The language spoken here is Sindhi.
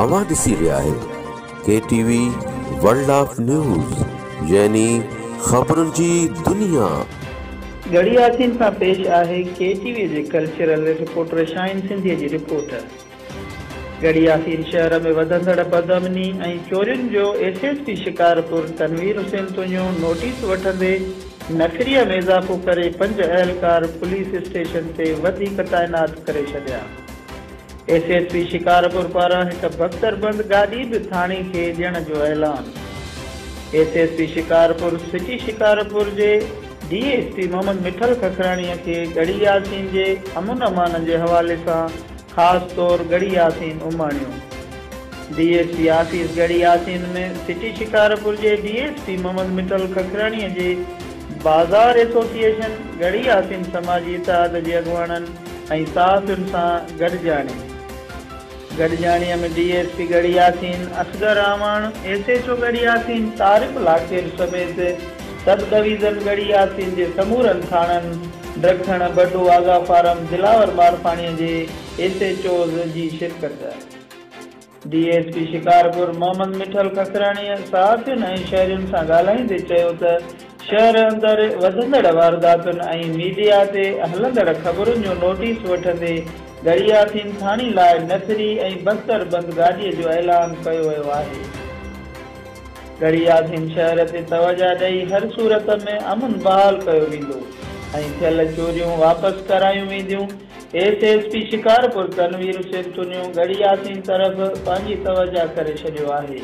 اوهان ڏسي رهيا آهيو K T V world of news يعني خبرن جي دنيا. ڳڙهي ياسين سان پيش آهي ڪي ٽي وي جي ڪلچرل رپورٽر شاهين سنڌيء جي رپورٽ. ڳڙهي ياسين شهر ۾ وڌندڙ بدامني ۽ چورين جو S S P Shikarpur Tanveer Hussain Tunio notice وٺندي نفري ۾ اضافو ڪري پنج اهلڪار پوليس اسٽيشن تي وڌيڪ تعينات ڪري ڇڏيا. ايس ايس پي شڪارپور پاران هڪ بستر بند گاڏي به ٿاڻي کي ڏيڻ جو اعلان S S P Shikarpur city Shikarpur جي D S P Muhammad Mithal Kakrani کي ڳڙهي ياسين جي امن امان جي حوالي سان خاص طور ڳڙهي ياسين اماڻيو D S P office Garhi Yasin ۾ city Shikarpur جي D S P Muhammad Mithal Kakrani جي بازار ايسوسيئيشن ڳڙهي ياسين سماجي اتحاد جي اڳواڻن ۽ صحافين سان گڏجاڻي گڏجاڻيء ۾ D S P Garhi Yasin, Asghar Awan, S H O Garhi Yasin, Tariq Lakhair سميت سب ڊويزن ڳڙهي ياسين جي سمورن ٿاڻن ڊکڻ، بڊو، آغا فارم، دلاور مارفاڻيء جي ايس ايڇ اوز جي شرڪت. D S P Shikarpur Muhammad Mithal ککراڻيء صحافين ۽ شهرين سان ڳالهائيندي چيو ته شهر اندر وڌندڙ وارداتن ۽ ميڊيا تي هلندڙ خبرن جو نوٽيس وٺندي گڙياٿين ٿاڻي لاء نفري ۽ بستر بند گاڏي جو اعلان ڪيو ويو آهي گڙياٿين شهر تي توجه ڏئي هر صورت ۾ امن بحال ڪيو ويندو ۽ ٿيل چوريون واپس ڪرايون وينديون. S S P Shikarpur Tanveer Hussain Tunio Garhi Yasin طرف پنهنجي توجهه ڪري ڇڏيو آهي.